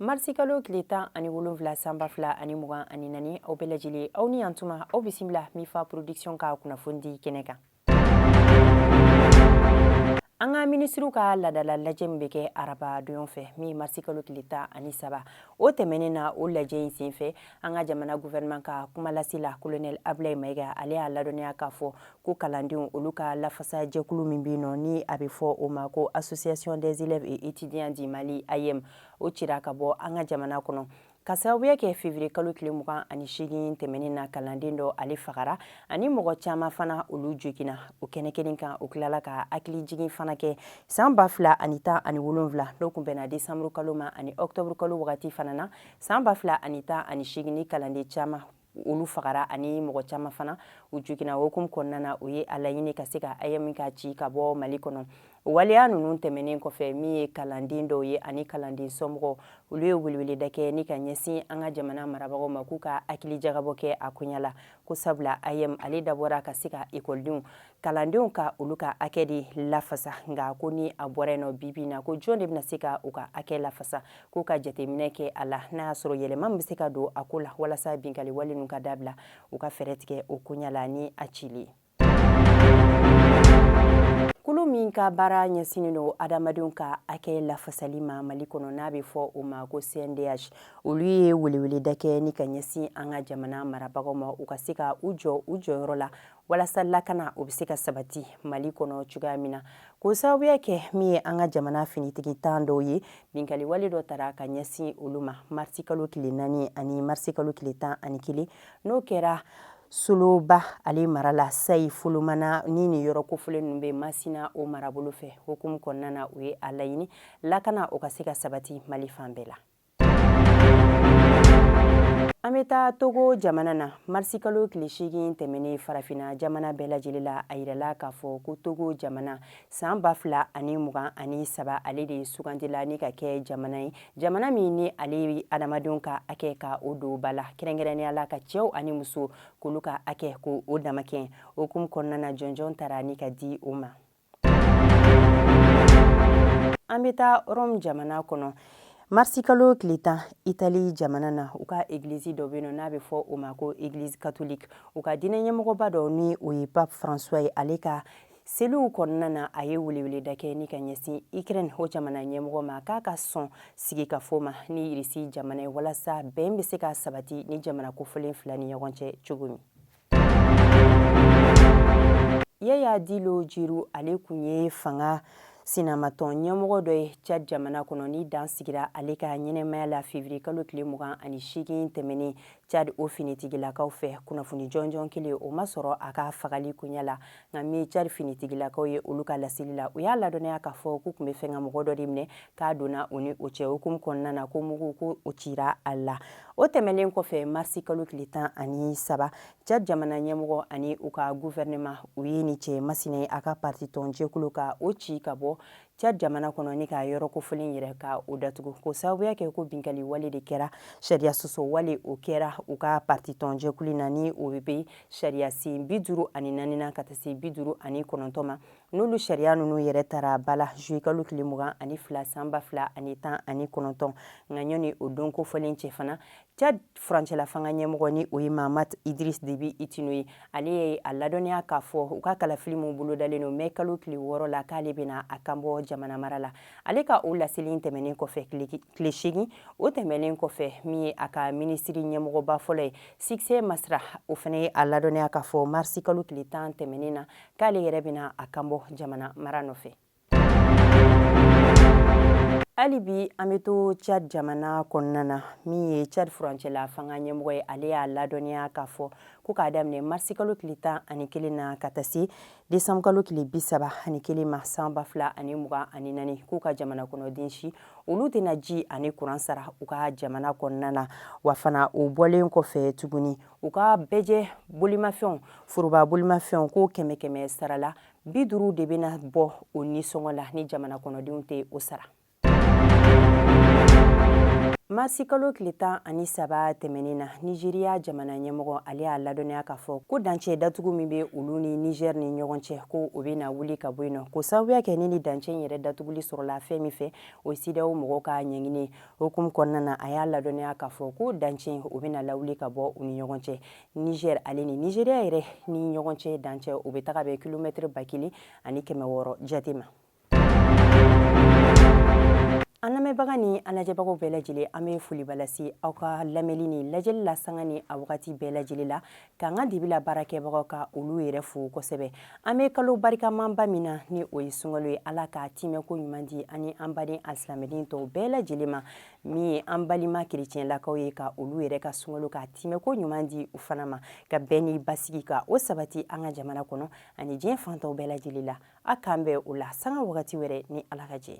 marisikalo tile tan ani wolonfila san ba fila ani mugan ani naani aw bɛɛ lajɛlen aw ni yantuma aw bisimila mifa production ka kunnafoni di kɛnɛ kan an ka minisiriw ka ladala lajɛ min bɛ kɛ araba don fɛ min marisikalo tile tan ani saba o tɛmɛnen na o lajɛ in senfɛ an ka jamana gouvernement ka kumalasela colonel abulayi mayiga ale y'a ladɔnniya k'a fɔ ko kalandenw olu ka lafasa jɛkulu min bɛ yen nɔ ni a bɛ fɔ o ma ko association des élèves et étudiants du mali aeem o cira ka bɔ an ka jamana kɔnɔ ka sababuya kɛ février kalo tile mugan ani seegin tɛmɛnen na kalanden dɔ ale fagara ani mɔgɔ caman fana olu jogina o kɛnɛ kelen kan o tilala ka hakili jigin fana kɛ san ba fila ani tan ani wolonfila n'o kun bɛnna desanburu kalo ma ani ɔktɔburu kalo wagati fana na san ba fila ani tan ani seegin ni kalanden caman olu fagara ani mɔgɔ caman fana u jigina hukumu kɔnɔna na u ye a laɲini ka se ka aeem ka ci ka bɔ mali kɔnɔ o waleya ninnu tɛmɛnen kɔfɛ min ye kalanden dɔw ye ani kalanden somɔgɔw olu ye weleweleda kɛ ni ka ɲɛsin an ka jamana marabagaw ma k'u ka hakili jagabɔ kɛ a koɲa la ko sabula aeem ale dabɔra ka se ka ekɔlidenw kalandenw ka olu ka hakɛ de lafasa nka ko ni a bɔra yen nɔ bibi na ko jɔn de bɛna se ka u ka hakɛ lafasa k'u ka jateminɛ kɛ a la n'a y'a sɔrɔ yɛlɛma min bɛ se ka don a ko la walasa binkali wale ninnu ka dabila u ka fɛɛrɛ tigɛ o koɲa la ni a cili kulu min ka baara ɲɛsinnen don adamadenw ka hakɛ lafasali ma mali kɔnɔ n'a bɛ fɔ o ma ko cndh olu ye weleweleda kɛ ni ka ɲɛsin an ka jamana marabagaw ma u ka se ka u jɔ u jɔyɔrɔ la walasa lakana o bɛ se ka sabati mali kɔnɔ cogoya min na k'o sababuya kɛ min ye an ka jamana finitigitan dɔw ye binkali wale dɔ tara ka ɲɛsin olu ma marisi kalo tile naani ani marisi kalo tile tan ani kelen n'o kɛra soloba ale mara la sayi folomana ni nin yɔrɔ kofɔlen ninnu bɛ masina o marabolo fɛ hukumu kɔnɔna na u ye a laɲini lakana o ka se ka sabati mali fan bɛɛ la an bɛ taa togo jamana na marisikalo tile seegin tɛmɛnen farafina jamana bɛɛ lajɛlen la a yirala k'a fɔ ko togo jamana san ba fila ani mugan ani saba ale de sugandila ni ka kɛ jamana ye jamana min ni ale ye adamadenw ka hakɛ ka o don ba la kɛrɛnkɛrɛnnenya la ka cɛw ani musow k'olu ka hakɛ k'o damakɛ hukumu kɔnɔna na jɔnjɔn tara ni ka di o ma an bɛ taa rɔmu jamana kɔnɔ marisikalo tile tan itali jamana na u ka egilizi dɔ bɛ yen nɔ n'a bɛ fɔ o ma ko egilizi katoliki u ka diinɛ ɲɛmɔgɔba dɔ ni o ye pape francois ye ale ka seliw kɔnɔna na a ye weleweleda kɛ ni ka ɲɛsin ukraine o jamana ɲɛmɔgɔ ma k'a ka sɔn sigikafo ma ni irisi jamana ye walasa bɛn bɛ se ka sabati ni jamana kofɔlen fila ni ɲɔgɔn cɛ cogo min yaya dilo jiru ale kun ye fanga sinamatɔn ɲɛmɔgɔ dɔ ye cad jamana kɔnɔ ni dan sigira ale ka ɲɛnɛmaya la fevriye kalo tile mugan ani seegin tɛmɛnen cad o finitigilakaw fɛ kunnafoni jɔnjɔn kelen o ma sɔrɔ a ka fagali koɲɛ la nka min cad finitigilakaw ye olu ka laseli la u y'a ladɔnniya k'a fɔ k'u tun bɛ fɛ ka mɔgɔ dɔ de minɛ k'a donna u ni o cɛ hukumu kɔnɔna na ko mugu ko o cira a la o tɛmɛnen kɔfɛ marisi kalo tile tan ani saba cad jamana ɲɛmɔgɔ ani u ka guvɛrɛnɛma u ye ni cɛ masina ye a ka pariti tɔnjɛkulu ka o ci ka bɔ cad jamana kɔnɔ ni ka yɔrɔ kofɔlen yɛrɛ ka o datugu k'o sababuya kɛ ko binkali wale de kɛra sariya sɔsɔ wale o kɛra u ka parti tɔnjɛkulu na ni o bɛ sariya sen bi duuru ani naani na ka taa se bi duuru ani kɔnɔntɔn ma n'olu sariya ninnu yɛrɛ tara bala zuyekalo tile mugan ani fila san ba fila ani tan ani kɔnɔntɔn nka ɲɔni o don kofɔlen cɛ fana Cad furancɛla fanga ɲɛmɔgɔ ni o ye mahamat idris debi itno ye ale ye a ladɔnniya k'a fɔ u ka kalafili minnu bolodalen don mɛ kalo tile wɔɔrɔ la k'ale bɛna a kan bɔ jamana mara la ale ka o laseli tɛmɛnen kɔfɛ tile seegin o tɛmɛnen kɔfɛ min ye a ka minisiri ɲɛmɔgɔba fɔlɔ ye sikisɛ masira o fana ye a ladɔnniya k'a fɔ marisi kalo tile tan tɛmɛnen na k'ale yɛrɛ bɛna a kan bɔ jamana mara nɔfɛ hali bi an bɛ to cad jamana kɔnɔna na min ye cad furancɛla fanga ɲɛmɔgɔ ye ale y'a ladɔniya k'a fɔ ko k'a daminɛ marisikalo tile tan ani kelen na ka taa se desanburukalo tile bi saba ani kelen ma san ba fila ani mugan ani naani k'u ka jamana kɔnɔden si olu tɛna ji ani kuran sara u ka jamana kɔnɔna na wa fana o bɔlen kɔfɛ tuguni u ka bɛɛjɛ bolimafɛnw foroba bolimafɛnw k'o kɛmɛ kɛmɛ sara la bi duuru de bɛna bɔ o nisɔngɔ la ni jamana kɔnɔdenw tɛ o sara marisikalo tile tan ani saba tɛmɛnen na nizeriya jamana ɲɛmɔgɔ ale y'a ladɔnniya k'a fɔ ko dancɛ datugu min bɛ olu ni niger ni ɲɔgɔn cɛ ko o bɛna wuli ka bɔ yen nɔ k'o sababuya kɛ ni ni dancɛ in yɛrɛ datuguli sɔrɔla fɛn min fɛ o ye cedeao mɔgɔw ka ɲɛɲini hukumu kɔnɔna na a y'a ladɔnniya k'a fɔ ko dancɛ o bɛna lawuli ka bɔ u ni ɲɔgɔn cɛ Niger ale ni Nigeria yɛrɛ ni ɲɔgɔn cɛ dancɛ o bɛ taga bɛn kilomɛtiri ba kelen ani kɛmɛ wɔɔrɔ jate ma an lamɛnbaga ni an lajɛbagaw bɛɛ lajɛlen an bɛ foliba lase aw ka lamɛnni ni lajɛli la sanga ni a wagati bɛɛ lajɛlen la k'an ka dibila baarakɛbagaw ka olu yɛrɛ fo kosɛbɛ an bɛ kalo barikamanba min na ni o ye sunkalo ye ala k'a tiimɛko ɲuman di an ni an baden alisilamɛden tɔw bɛɛ lajɛlen ma min ye an balima kerecɛnlakaw ye ka olu yɛrɛ ka sunkalo k'a timɛko ɲuman di u fana ma ka bɛn ni basigi ka o sabati an ka jamana kɔnɔ ani diɲɛ fan tɔw bɛɛ lajɛlen la a k'an bɛn o la sanga wagati wɛrɛ ni ala ka jɛ